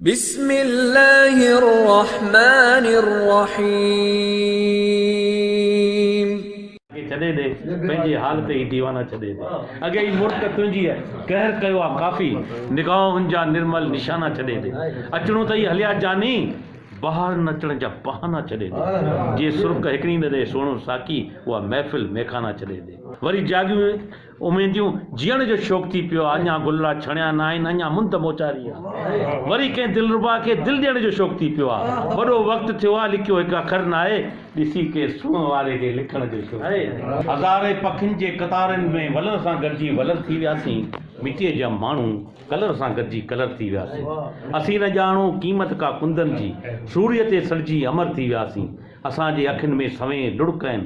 بسم الله الرحمٰن الرحيم. کي ڇڏي ڏي پنهنجي حال تي هي ديوانا ڇڏي ڏي اڳي ئي مرڪ تنهنجيء قهر ڪيو آ ڪافي نگاهن جا نرمل نشانا ڇڏي ڏي اچڻو ته ئي هليا جاني بهار نچڻ جا بهانا ڇڏي ڏي جي سرڪ هڪڙي نه ڏي سهڻو ساقي اها محفل ميخانا ڇڏي ڏي وري جاڳيون اميديون جيئڻ جو شوق ٿي پيو آ اڃا گلڙا ڇڻيا ناهن اڃا مند موچاري آ وري ڪنهن دلربا کي دل ڏيڻ جو شوق ٿي پيو آ وڏو وقت ٿيو آ لکيو هڪ اکر ناهي ڏسي ڪنهن سونهن واري کي لکڻ جو شوق ٿي پيو آ هزارين پکين جي قطارن ۾ ولر سان گڏجي ولر ٿي وياسين مٽيء جا ماڻهو ڪلر سان گڏجي ڪلر ٿي وياسين اسين نه ڄاڻو قيمت ڪا ڪندن جي سوريء تي سڙجي امر ٿي وياسين اسان جي اکين ۾ سوين لڙڪ آهن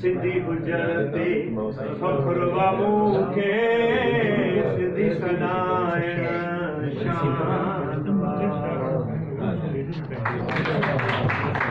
سنڌي هجڻ تي فخر وا مون کي سنڌي سڏائڻ شان وا.